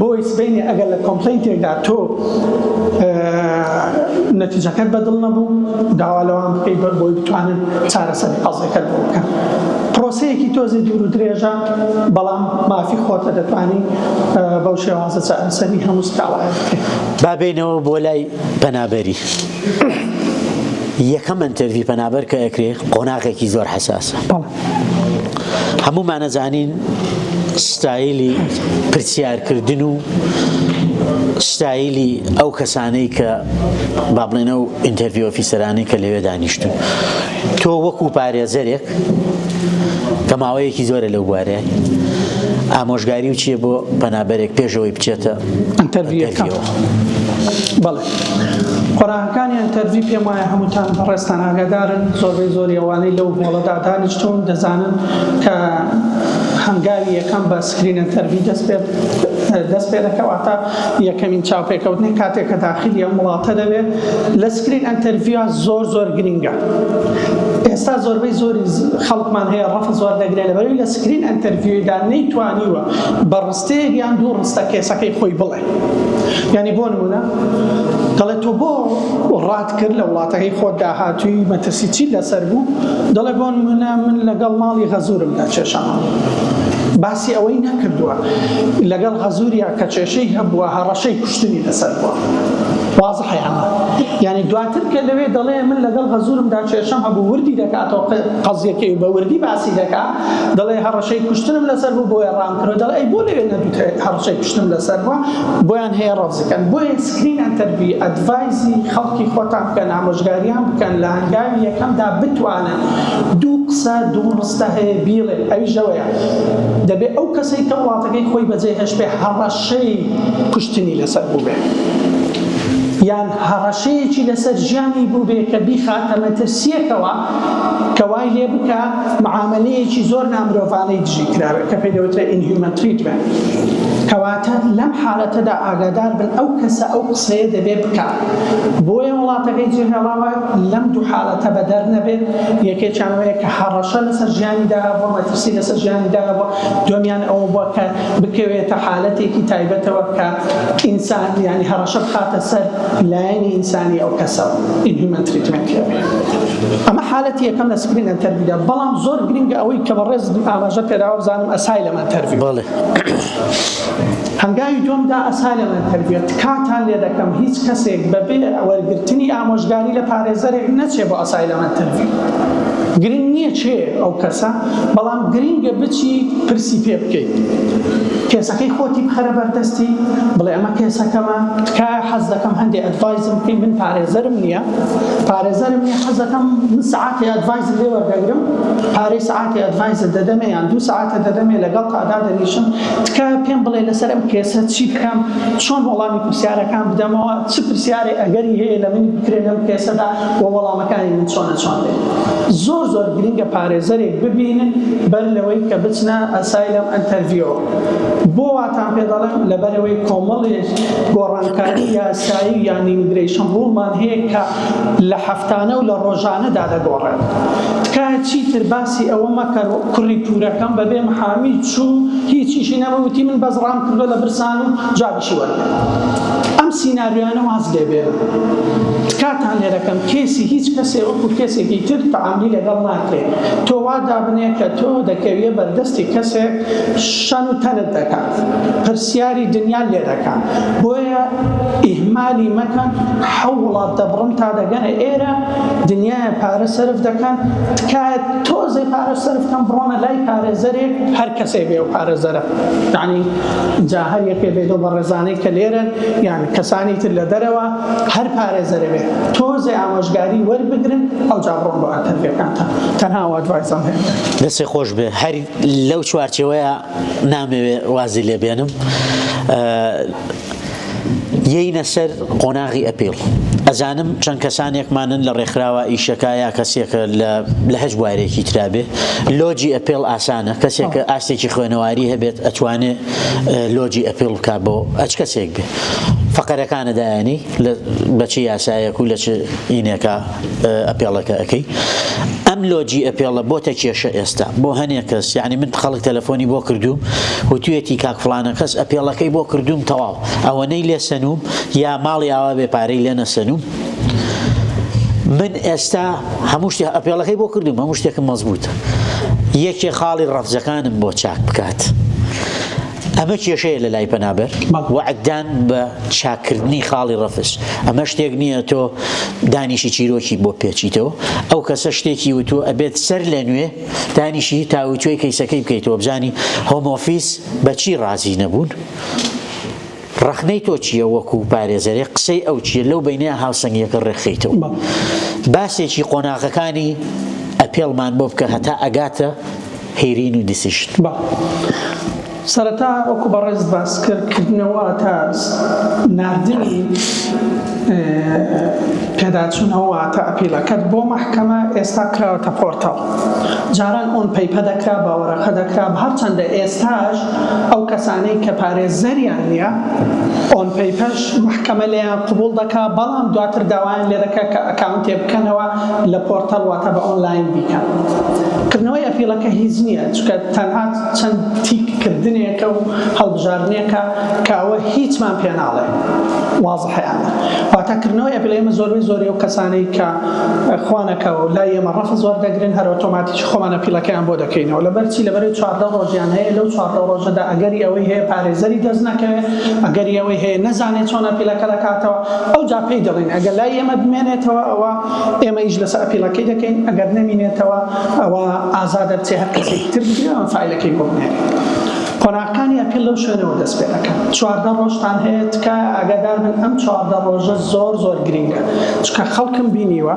بۆی سبەینێ ئەگەر لە کۆمپلەینتێکدا تۆ نەتیجەکەت بەدڵ نەبوو داوا لەوان بکەی بەر بۆی بتوانن چارەسەر قەزەکەت بۆ بکەن پرۆسەیەکی تۆزی دوور و درێژە بەڵام مافی خۆتە دەتوانی بەو شێوازە چارەسەری هەموو سکاڵای بکەیت بابینەوە بۆ لای پەنابەری یەکەم ئەنتەرڤی پەنابەر کە ئەکرێ قۆناغێکی زۆر حساسە. هەموومان ئەزانین ستایلی پرسیارکردن و ستایلی ئەو کەسانەی کە با بڵێنە و ئینتەرڤی ئۆفیسەرانی کە لەوێ دانیشتون تۆ وەکو پارێزەرێک کە ماوەیەکی زۆرە لەو بوارێ ئامۆژگاری و چیە بۆ پەنابەرێک پێشەوەی بچێتە ئەتەرڤیەکە بەڵێ قۆناغەکانیان تەرمی پێم وایە هەمووتان بەڕێزتان ئاگادارن زۆربەی زۆری ئەوانەی لەو هۆڵەدا دانیشتوون دەزانن کە هەنگاوی یەکەم بە سکرینە تەرمی دەست پێ دەست پێ دەکەواتە یەکەمین چاوپێکەوتنی کاتێک کە داخلی ئەم وڵاتە دەبێت لە سکرین ئەتەرڤیا زۆر زۆر گرنگە ئێستا زۆربەی زۆری خەڵکمان هەیە ڕەف زۆر دەگرێت لەبەروی لە سکرین ئەتەرڤیودا نەیتوانیوە بە ڕستەیەک یان دوو ڕستە کێسەکەی خۆی بڵێ یانی بۆ نمونە دەڵێت تۆ بۆ ڕات کرد لە وڵاتەکەی خۆت داهاتووی مەترسی چی لەسەر بوو دەڵێ بۆ نمونە من لەگەڵ ماڵی غەزورم دا چێشەمە باسی ئەوەی نەکردووە لەگەڵ غەزوریا کە چێشەی هەبووە هەڕەشەی کوشتنی لەسەر بووە واز حیانە یعنی دواتر کە لەوێ دەڵێ من لەگەڵ غەزورمدا چێشەم هەبوو وردی دەکاتەوە قەزیەکەی بە وردی باسی دەکات دەڵێ هەڕەشەی کوشتنم لەسەر بوو بۆیە ڕام کرد دەڵێ ئەی بۆ لەوێ نەدوترێت هەڕشەی شتم لەسەر بوە بۆیان هەیە ڕەفزکەن بۆیە سکرین ئەنتەرڤی ئەدڤایزی خەڵکی خۆتان بکەن ئامۆژگاریان بکەن لە هەنگاوی یەکەمدا بتوانن دوو قسە دوو ڕستە هەیە بیڵێن ئەویش ئەوەیە دەبێ ئەو کەسەی کە وڵاتەکەی خۆی بەجێ هێشتبێ هەڕەشەی کوشتنی لەسەر بوبێ یان هەڕەشەیەکی لەسەر ژیانی بوبێ کە بیخاتە مەترسیەکەوە کە وای لێ بکا معامەلەیەکی زۆر نامرۆڤانەی دژی کراوێت کە پێی دەوترێت Inhuman Treatment. کەواتە لەم حالەتەدا ئاگادار بن ئەو کەسە ئەو قسەیە دەبێ بکا. بۆیە وڵاتەکەی جێهێڵاوە لەم دوو حالەتە بەدەر نەبێت، یەکێکیان ئەوەیە کە هەڕەشە لەسەر ژیانی داهبووە، مەترسی لەسەر ژیانی داهبووە، دووەمیان ئەوە بووە کە بکەوێتە حالەتێکی تایبەتەوە کە ئینسان یانی هەڕەشە بخاتە سەر لایەنی ئینسانی ئەو کەسە Inhuman Treatment کە ئەمە حالەتی یەکەم لە سکرین ئەنتەرڤیودا بەڵام زۆر گرنگە ئەوەی کە بەڕێز ئاماژە پێداوە بزانم ئەسای لەم ئەنتەرڤیو بەڵێ هەنگاوی دومدا ئەسا لەم ئەنتەرڤیوە تکاتان لێ دەکەم هیچ کەسێک بەبێ وەرگرتنی ئامۆژگاری لە پارێزەرێک نەچێ بۆ ئەسای لەم ئەنتەرڤیو گرنگ نییە چێ ئەو کەسە بەڵام گرنگە بچی پرسی پێ بکەیت قسەکەی خۆتی بخەرە بەردەستی بڵێ ئەمە کێسەکەمە تکایە حەز دەکەم هەندێ ئەدڤایزم بکەی من پارێزەرم نییە پارێزەرم نیە حەز دەکەم من سعاتی ئەدڤایزت لێ وەردەگرم پارەی سعاتی ئەدڤایزت دەدەمێ یان دوو سعاتە دەدەمێ لەگەڵ تا دادەنیشم تکایە پێم بڵێ لەسەر ئەم کێسە چی بکەم چۆن وەڵامی پرسیارەکان بدەمەوە چ پرسیارێ ئەگەری هەیە لە منی بکرێ لەم کێسەدا و وەڵامە کانی من چۆنە چۆن بێت زۆر زۆر گرنگە پارێزەرێک ببینن بەر لەوەی کە بچنە ئەسایلەم ئەنتەرڤیۆ بۆ واتان پێ دەڵێم لەبەرەوەی کۆمەڵێک گۆڕانکاری یاسایی و یان ئیمیگرەیشن ڕوڵمان هەیە کە لە هەفتانە و لە ڕۆژانەدا دەگۆڕێت تکایە چیتر باسی ئەوە مەکە کوڕی پورەکەم بەبێ محامی چوو هیچیشی نەبوو وتی من بەس ڕام کردووە لە برسان و جا چی وەرگرت ئەم سیناریۆیانە واز لێ بێنن تکاتان لێ دەکەم کەیسی هیچ کەسێ وەکو کەسێکی تر تەعاملی لەگەڵ ناکەی تۆ وا دابنێ کە تۆ دەکەویە بەردەستی کەسێک شەن و تەنت دەکات پرسیاری دنیا لێ دەکات بۆیە ئیهمالی مەکەن حەو وڵات دەبڕن تا دەگەنە ئێرە دنیای پارە سەرف دەکەن تکایە تۆزێ پارە سەرف کەم بڕۆنە لای پارێزەرێک هەر کەسێ بێ و پارێزەرە یعنی جا هەر یەکێ بێت لەو بەڕێزانەی کە لێرەن یان کەسانی تر لە دەرەوە هەر پارێزەرە بێت تۆزێ ئامۆژگاری وەربگرن ئەو جا بڕۆن بۆ ئەتەربیەکانتان تەنها وادوایزان هەیە دەسێ خۆش بێ هەر لەو چوارچەوەیە نامەوێ وازی لێبێنم یەینە سەر قۆناغی ئەپیڵ. ئەزانم چەند کەسانێکمانن لە ڕێکخراوە ئیشەکە یا کەسێکە لە لە هەچ بوارێکی ترا بێ لۆجی ئەپێڵ ئاسانە کەسێک کە ئاستێکی خوێنەواری هەبێت ئەتوانێ لۆجی ئەپیڵ بکا بۆ ئەچ کەسێک بێ فەقەرەکانە دایانی لە بەچی یاسایەک و لە چ ئینێکا ئەپێڵەکە ئەکەی ئەم لۆجی ئەپێڵە بۆتە کێشە ئێستا بۆ هەنێ کەس یعنی من خەڵک تەلەفۆنی بۆ کردووم وتوێتی کاک فلانە کەس ئەپێڵەکەی بۆ کردووم تەواو ئەوەنەی لێ سەنووم یا ماڵی ئاوا بێ پارەی لێ نەسەنووم من ئێستا هەموو شتێ ئەپێڵەکەی بۆ کردووم هەموو شتێکم مەزبووتە یەکێ خاڵی ڕەفزەکانم بۆ چاک بکات. ئەمە کێشەیە لە لای پەنابەر وعددان بە چاکردنی خاڵی ڕەفز ئەمە شتێک نییە تۆ دانیشی چیرۆکی بۆ پێچیتەوە ئەو کەسە شتێکی وتووە ئەبێت سەر لە نوێ دانیشی تاوتوێ کەیسەکەی بکەیتەوە بزانی هۆمۆفیس بەچی ڕازی نەبوون ڕەخنەی تۆ چییە وەکوو پارێزەرێک قسەی ئەو چییە لەو بەینەیا هاوسەنگییەکە ڕێکخەیتەوە؟ باسێکی قۆناغەکانی ئەپێڵمان بۆ بکە هەتا ئەگاتە هیرین و دیسیژن. با سەرەتا وەکوو بەڕێزت باست کرد کردنەوە تا ناردنی پێداچوونەوە واتە ئەپیڵەکەت بۆ مەحکەمە ئێستا کراوەتە پۆرتاڵ جاران ئۆن پەیپە دەکرا بە وەرەقە دەکرا هەرچەندە ئێستاش ئەو کەسانەی کە پارێزەریان نییە ئۆن پەیپەرش مەحکەمە لێیان قبوڵ دەکا بەڵام دواتر داوایان لێ دەکا کە ئەکاونتێ بکەنەوە لە پۆرتەڵ واتە بە ئۆنلاین بیکەن کردنەوەی ئەپیڵەکە هیچ نییە چونکە تەنها چەند تیک کردنێکە و هەڵبژاردنێکە کە ئەوە هیچمان پێ ناڵێ وازحیانە واتە کردنەوەی ئەپیڵ ئێمە زۆربەی زۆری ئەو کەسانەی کە خوانەکە و لای ئێمە ڕەفز وەردەگرن هەر ئۆتۆماتیک خۆمان ئەپیڵەکەیان بۆ دەکەینەوە لەبەر چی لەبەرەی چواردە ڕۆژیان هەیە لەو چواردە ڕۆژەدا ئەگەری ئەوەی هەیە پارێزەری دەست نەکەوێت ئەگەری ئەوەی هەیە نەزانێت چۆن ئەپیلەکە دەکاتەوە ئەو جا پێی دەڵێن ئەگەر لای ئێمە بمێنێتەوە ئەوە ئێمە ئیش لەسەر ئەپیلەکەی دەکەین ئەگەر نەمینێتەوە ئەوە ئازادە بچێ هەر کەسێکی تر بگرێەوە فایلەکەی بۆ بنێرێت قۆناغەکانی ئەپیل لەو شوێنەوە دەست پێ دەکەن چواردە ڕۆژتان هەیە تکایە ئاگادار بن ئەم چواردە ڕۆژە زۆر زۆر گرینگە چکە خەڵکم بینیوە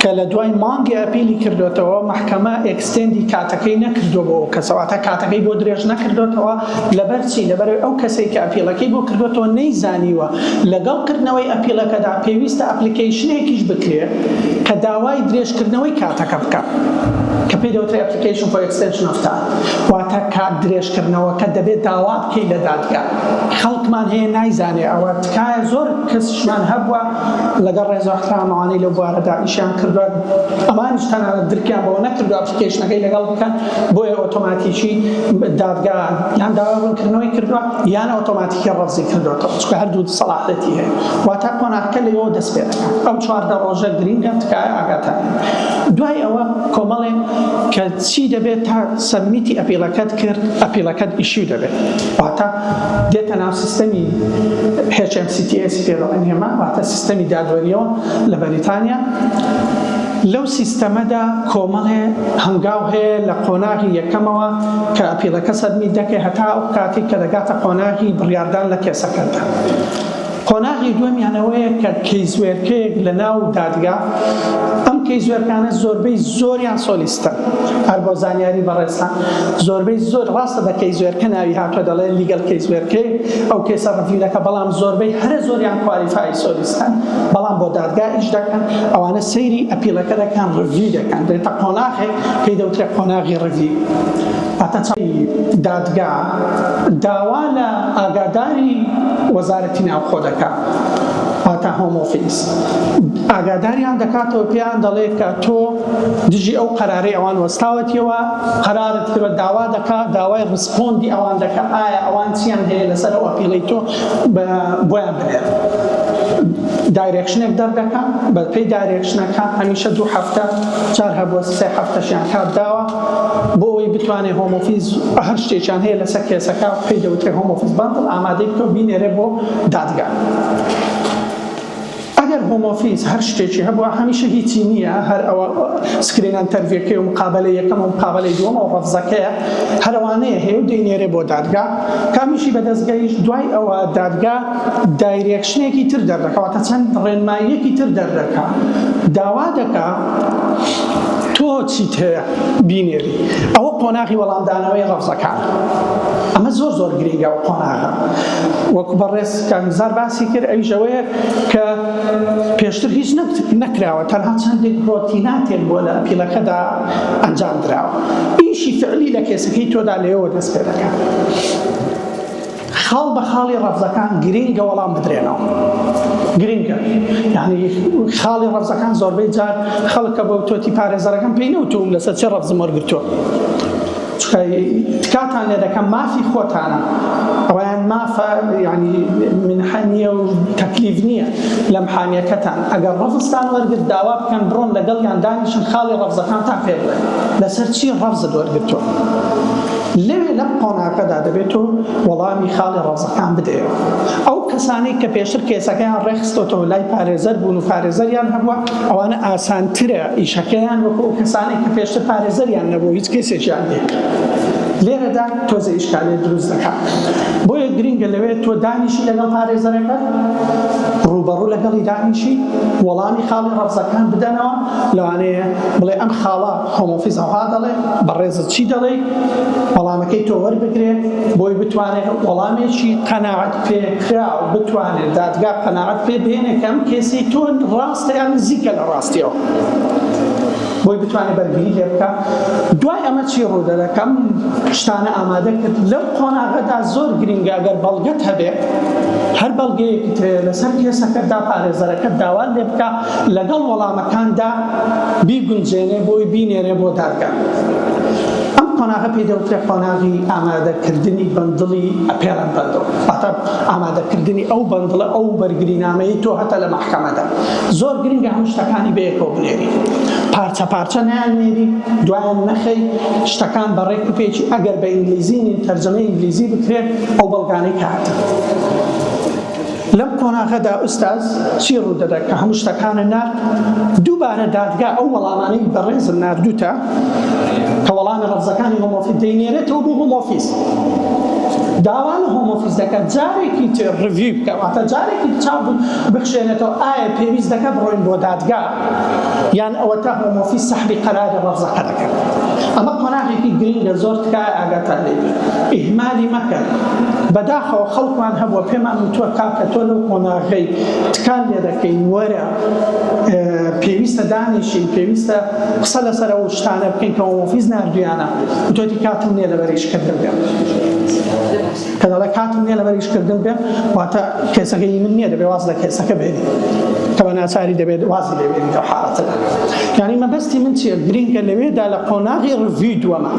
کە لە دوای مانگێ ئەپیلی کردۆتەوە مەحکەمە ئێکستێندی کاتەکەی نەکردوە بۆ ئەو کەسە واتە کاتەکەی بۆ درێژ نەکردۆتەوە لەبەر چی لەبەرەوەی ئەو کەسەی کە ئەپیلەکەی بۆ کردۆتەوە نەیزانیوە لەگەڵ کردنەوەی ئەپیلەکەدا پێویستە ئەپلیکەیشنێکیش بکرێ کە داوای درێژ کردنەوەی کاتەکە بکا کە پێی دەوترێ ئەپلیکەیشن فۆر ئێکستێنشن ئۆف تایم واتە کات درێژ کردنەوەکە دەبێت داوا بکەی لە دادگا خەڵکمان هەیە نایزانێ ئەوە تکایە زۆر کەسیشمان هەبوە لەگەڵ ڕێز و ئەحترام ئەوانەی لەو بوارەدا ئیشیان کردووە ئەمانیش تەنانەت درکیان بەوە نەکردووە ئەپلیکەیشنەکەی لەگەڵ بکەن بۆیە ئۆتۆماتیکی دادگا یان داوای ڕوونکردنەوەی کردووە یان ئۆتۆماتیکی ڕەفزی کردووەتەوە چونکە هەردوو سەڵاحەتی هەیە واتا قۆناغەکە لەوە دەست پێ دەکات ئەو چواردە ڕۆژە گرینگە تکایە ئاگاتان دوای ئەوە کۆمەڵێ کە چی دەبێت تا سەبمیتی ئەپیڵەکەت کرد ئەپیڵەکەت ئیشیو دەبێت واتا دێتە ناو سیستەمی HMCTS پێ دەڵێن ئێمە، واتە سیستەمی دادوەرییەوە لە بەریتانیا. لەو سیستەمەدا کۆمەڵێ هەنگاو هەیە لە قۆناغی یەکەمەوە کە ئەپیڵەکە سەبمیت دەکەی هەتا ئەو کاتەی کە دەگاتە قۆناغی بڕیاردان لە کێسەکەتدا. قۆناغی دووەمیان ئەوەیە کە کەیسوێرکەیەک لە ناو دادگا، ئەم کەیسوێرکانە زۆربەی زۆریان سۆلیستەن، هەر بۆ زانیاری بەڕێزتان زۆربەی زۆر ڕاستە بە کەیسوێرکە ناوی هاتووە دەڵێ لیگەل کەیسوێرکەیەک ئەو کەیسە ڕڤیوەکە بەڵام زۆربەی هەرە زۆریان کوالیفای سۆلیستەن بەڵام بۆ دادگا ئیش دەکەن ئەوانە سەیری ئەپیڵەکە دەکەن ڕڤیو دەکەن دێتە قۆناغێک پێی دەوترێ قۆناغی ڕڤیو پاتەچەڵی دادگا داوا لە ئاگاداری وەزارەتی ناوخۆ دەکات واتا هۆم ئۆفیس ئاگاداریان دەکاتەوە پێیان دەڵێت کە تۆ دژی ئەو قەرارەی ئەوان وەستاوەتیەوە قەرارت کرد داوا دەکات داوای ڕسپۆندی ئەوان دەکات ئایا ئەوان چیان هەیە لەسەر ئەو ئەپیڵی تۆ بۆیان بنێت دایرێکشنێک دەردەکە بەپی دایرێکشنەکە هەمیشە دوو هەفتە چار هەبووە سێ هەفتەشیان کات داوە بۆ ئەوەی بتوانێت هۆمۆفیز هەر شتێکیان هەیە لەسەر کێسەکە پێی دەوترێت هۆمۆفیز باندڵ ئامادەی بکە و بینێرێ بۆ دادگا. ئەگەر هۆمۆفیز هەر شتێکی هەبووە هەمیشە هیچی نییە هەر ئەوە سکرینە ئەنتەرڤیوەکەی و مقابەلەی یەکەم و مقابەلەی دووەم و ڕەفزەکەیە هەر ئەوانەیە هەیە و دەینێرێ بۆ دادگا کامیشی بەدەست گەیشت دوای ئەوە دادگا دایرێکشنێکی تر دەردەکا واتە چەند ڕێنماییەکی تر دەردەکا داوا دەکا تۆ چیت هەیە بینێری ئەوە قۆناغی وەڵامدانەوەی ڕەفزەکان ئەمە زۆر زۆر گرنگە و قۆناغە وەکو بەڕێز کامیزار باسی کرد ئەوی ژەوەیە کە پێشتر هیچ نەکراوە تەنها چەندێک ڕۆتیناتێک بۆ لە پیلەکەدا ئەنجام دراوە ئیشی فعلی لە کێسەکەی تۆدا لێەوە دەست پێ دەکات خاڵ بە خاڵی ڕەفزەکان گرینگە وەڵام بدرێنەوە گرنگە یعنی خاڵی ڕەفزەکان زۆربەی جار خەڵکە بە تۆتی پارێزەرەکەم پێی نەوتوم لەسەر چێ ڕەفزم وەرگتووە تکاتان لێ دەکەم مافی خۆتانە ڕیان مافە ینی منحەنیە و تەکلیف نییە لەم حانیەکەتان ئەگەر ڕەفستان وەرگرت داوا بکەن بڕۆن لەگەڵیان دانیشن خاڵی ڕەفزەکانتان پێ بڵێن لەسەر چی ڕەفزت وەرگتووە لەوێ لەم قۆناغەدا دەبێت تۆ وەڵامی خاڵی ڕەزەکان بدەیەوە. ئەو کەسانەی کە پێشتر کێسەکەیان ڕێکخستۆتەوە لای پارێزەر بوون و پارێزەریان هەبووە، ئەوانە ئاسانترە ئیشەکەیان وەکو ئەو کەسانەی کە پێشتر پارێزەریان نەبووە و هیچ کێسێکیان نییە. لێرەدا تۆزێ ئیشکالیەت دروست دەکات. بۆیە گرنگە لەوێ تۆ دانیشی لەگەڵ پارێزەرەکەت، ڕووبەڕوو لەگەڵی دانیشی، وەڵامی خاڵی ڕەزەکان بدەنەوە، لەوانەیە بڵێ ئەم خاڵە هۆم ئۆفیس ئەوها دەڵێ بەڕێزت چی دەڵێی وەڵامەکەی تۆ وەربگرێ بۆی بتوانێت وەڵامێکی قەناعەت پێکرا و بتوانێت دادگا قەناعەت پێ بێنێ کەم کێسی تۆ ڕاستە یان نزیکە لە ڕاستیەوە بۆی بتوانێت بەرگری لێ بکە دوای ئەمە چی ڕوودە دەکەم شتانە ئامادە کرد لەو قۆناغەدا زۆر گرنگە گەر بەڵگەت هەبێت هەر بەڵگەیەکی ترێ لەسەر کێسەکەتدا پارێزەرەکەت داوا لێ بکە لەگەڵ وەڵامەکاندا بیگونجێنێ بۆی بینێرێ بۆ دادگا. ئەم قۆناغە پێی دەوترێ قۆناغی ئامادەکردنی بەندڵی ئەپێڵەن بەندڵ واتە ئامادەکردنی ئەو بەندڵە ئەو بەرگرینامەی تۆ هەتە لە مەحکەمەدا زۆر گرنگە هەموو شتەکانی بەیەکەوە بنێری پارچە پارچە نیان نێری دوایان نەخەی شتەکان بە ڕێک و پێکی ئەگەر بە ئینگلیزی نین تەرجەمە ئینگلیزی بکرێت ئەو بەڵگانەی کارتە لەم قۆناغەدا ئوستاز چی ڕوودەدە کە هەموو شتەکانە نارد؟ دووبارە دادگا ئەو وەڵامانەی بەڕێزم ناردووتە کە وەڵامە ڕەفزەکانی هۆمۆفیز دەینێرێتەوە بۆ هۆمۆفیز داوا لە هۆمۆفیز دەکات جارێکی تر ڕڤیو بکە واتە جارێکی چاپ بخشێنێتەوە ئایا پێویست دەکات بڕۆین بۆ دادگا یان ئەوەتا هۆمۆفی سەحبی قەراری ڕەفزەکە دەکەن ئەمە قۆناغێکی گرنگە زۆر تکایە ئاگاتان لێ بێ ئیهمالی مەکەن بەداخەوە خەڵکمان هەبووە پێمان وتووە کاکە تۆ لەو قۆناغەی تکان لێ دەکەین وەرە پێویستە دانیشین پێویستە قسە لەسەر ئەو شتانە بکەین کە هۆمۆفیز ناردویانە وتۆتی کاتم نییە لەبەر ئیشکردن بێ کە دەڵێ کاتم نیە لەبەر ئیش کردن بێم واتە کێسەکە هی من نیە دەبێ واز لە کێسەکە بێنی کە بە ناچاری دەبێت وازی لێ بێنی لەو حاڵەتەدا یانی مەبەستی من چیە گرینگە لەوێدا لە قۆناغی ڕڤی دووەمە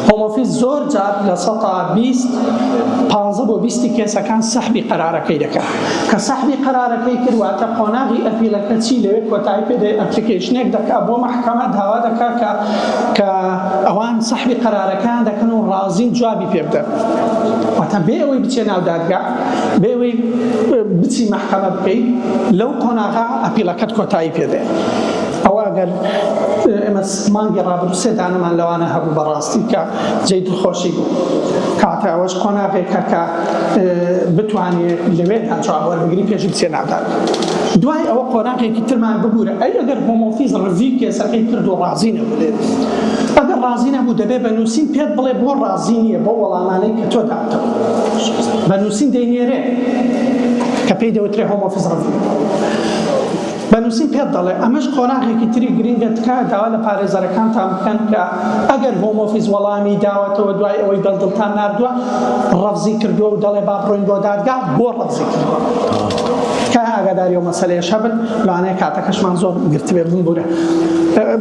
هۆمۆفیز زۆر جار لە سەتا بیست پانزە بۆ بیستی کێسەکان سەحبی قەرارەکەی دەکات کە سەحبی قەرارەکەی کرواتە قۆناغی ئەپیلەکە چی لەوێ کۆتایی پێدەی ئەپلیکیشنێک دەکات بۆ مەحکەمە داوا دەکات کە کە ئەوان سەحبی قەرارەکەیان دەکەن و ڕازین جوابی پێ بدەن واتە بێ ئەوەی بچێ ناو دادگا بێ ئەوەی بچی مەحکەمە بکەیت لەو قۆناغا ئەپیلەکەت کۆتایی پێدێ ئەوە ئەگەر ئێمە مانگی ڕابردوو سێ دانەمان لەوانە هەبوو بەڕاستی کە جێی دڵخۆشی بوو کاتە ئەوەش قۆناغێک کەکە بتوانێت لەوێدا جواب وەربگری پێش بچێ نادات دوای ئەوە قۆناغێکی ترمان ببوورە ئەی ئەگەر هۆمۆفیز ڕزی کێسەکەی کرد و ڕازی نەبێت ئەگەر ڕازی نەبوو دەبێت بە نووسین پێت بڵێ بۆ ڕازی نییە بۆ وەڵامانەی کە تۆ داتەوە بە نووسین دەینێرێ کە پێی دەوترێ هۆمۆفیز ڕزی بە نووسین پێت دەڵێ. ئەمەش قۆناغێکی تری گرنگە، تکایە داوا لە پارێزەرەکانتان بکەن کە ئەگەر هۆم ئۆفیس وەڵامی داوەتەوە دوای ئەوەی دەلدڵتان ناردووە ڕەفزی کردووە و دەڵێ با بڕۆین بۆ دادگا بۆ ڕەفزی کردووە تکایە ئاگاداری ئەو مەسەلەیەش هەبن، لەوانەیە کاتەکەشمان زۆر گرتبێ بمبوورە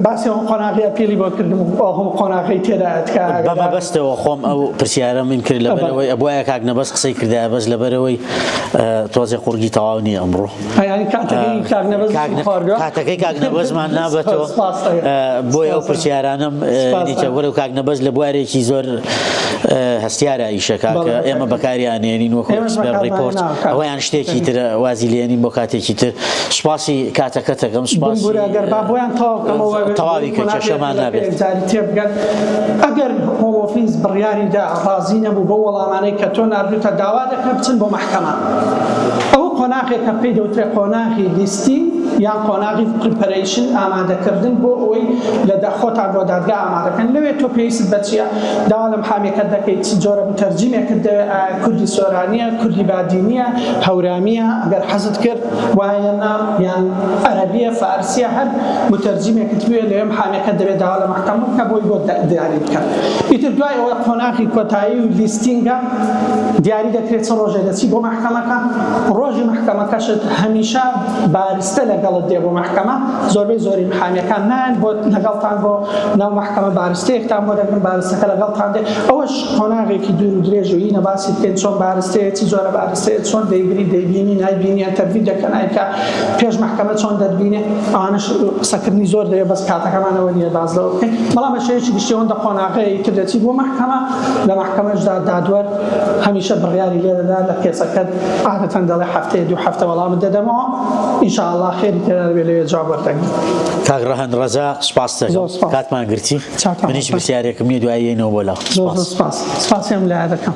باسی ئەو قۆناغی ئەپیلی بۆ کردم و ئەو هەموو قۆناغەی تێدایە تکایە بە ئاگادار مەبەستەوە خۆم ئەو پرسیارەم کرد لەبەرەوەی ئەبوایە کاک نەبەز قسەی کردایە بەس لەبەرەوەی تۆزێ قوڕگی تەواو نییە ئەمڕۆ. کاتەکەی کاک نەبەزمان نابەتەوە بۆی ئەو پرسیارانم نیتە وەرەو کاک نەبەز لە بوارێکی زۆر هەستیارە ئیشەکاکە ئێمە بەکاریانێنین وەکو ڕیپۆرت ئەویان شتێکی تر وازی لێنین بۆ کاتێکی تر سپاسی کاتەکەتەکەم سپاس بۆیان تەواوی کە کێشەمان نابێت تێبگەن ئەگەر هۆمۆفیز بڕیاریدا ڕازی نەبوو بۆ وەڵامانەی کە تۆ ناردوتە داوا دەکە بچن بۆ کەمە. ئەوە قۆناغێکە پێی دەوترێت قۆناغی لیستین یان قۆناغی پریپەرەیشن ئامادەکردن بۆ ئەوەی لە دا خۆتان بۆ دادگا ئامادەکەن لەوێ تۆ پێویستت بە چیە داوا لە محامێکەت دەکەیت چ جۆرە متەرجیمێکت دەوێت ئایا کوردی سۆرانیە کوردی بادینیە هەورامیە ئەگەر حەزت کرد وایە نا یان عەرەبیە فارسیە هەر متەرجیمێکت بوێت لەوێ محامێکەت دەوێت داوا لە محکەمە بکە بۆی بۆ دیاری بکە ئیتر دوای ئەوە قۆناغی کۆتایی و لیستینگە دیاری دەکرێت چ ڕۆژێ دەچی بۆ مەحکەمەکە ڕۆژی مەحکەمەکەشت هەمیشە بارستە لەگەڵت دێ بۆ مەحکەمە زۆربەی زۆری محامیەکان نان بۆ لەگەڵتان بۆ ناو مەحکەمە بارستەیەکتان بۆ دەگرن بارستەکە لەگەڵتان دێ ئەوەش قۆناغێکی دوور و درێژ و یینە باسی بکەین چۆن بارستەیە چ جۆرە بارستەیە چۆن دەیگری دەیبینی نایبینی ئەتەرڤی دەکە نایکە پێش مەحکەمە چۆن دەتبینێ ئەوانش قسەکردنی زۆر دەیە بەس کاتەکەمانەوە نیە باز لەوە بکەین بەڵام بە شێوەیەکی گشتی ئەوەندە قۆناغەیە ئیتر دەچی بۆ مەحکەمە لە مەحکەمەشدا دادوەر هەمیشە بڕیاری لێ دەدا لە کێسەکەت عادەتەن دەڵێ هەفتەیە دوو هەفتە وەڵامت دەدەمەوە ان شاء اللە خێری تێدا دەبێ لەوێ جواب وەردەگری کاک ڕەهەند ڕەزا سپاست زۆر دەکەم سپاس. کاتمان گرتی چاکە. من هیچ پرسیارێکم نییە دوایی یەینەوە بۆ لاو زۆر زۆر سپاس سپاس سپاسیان لایە دەکەم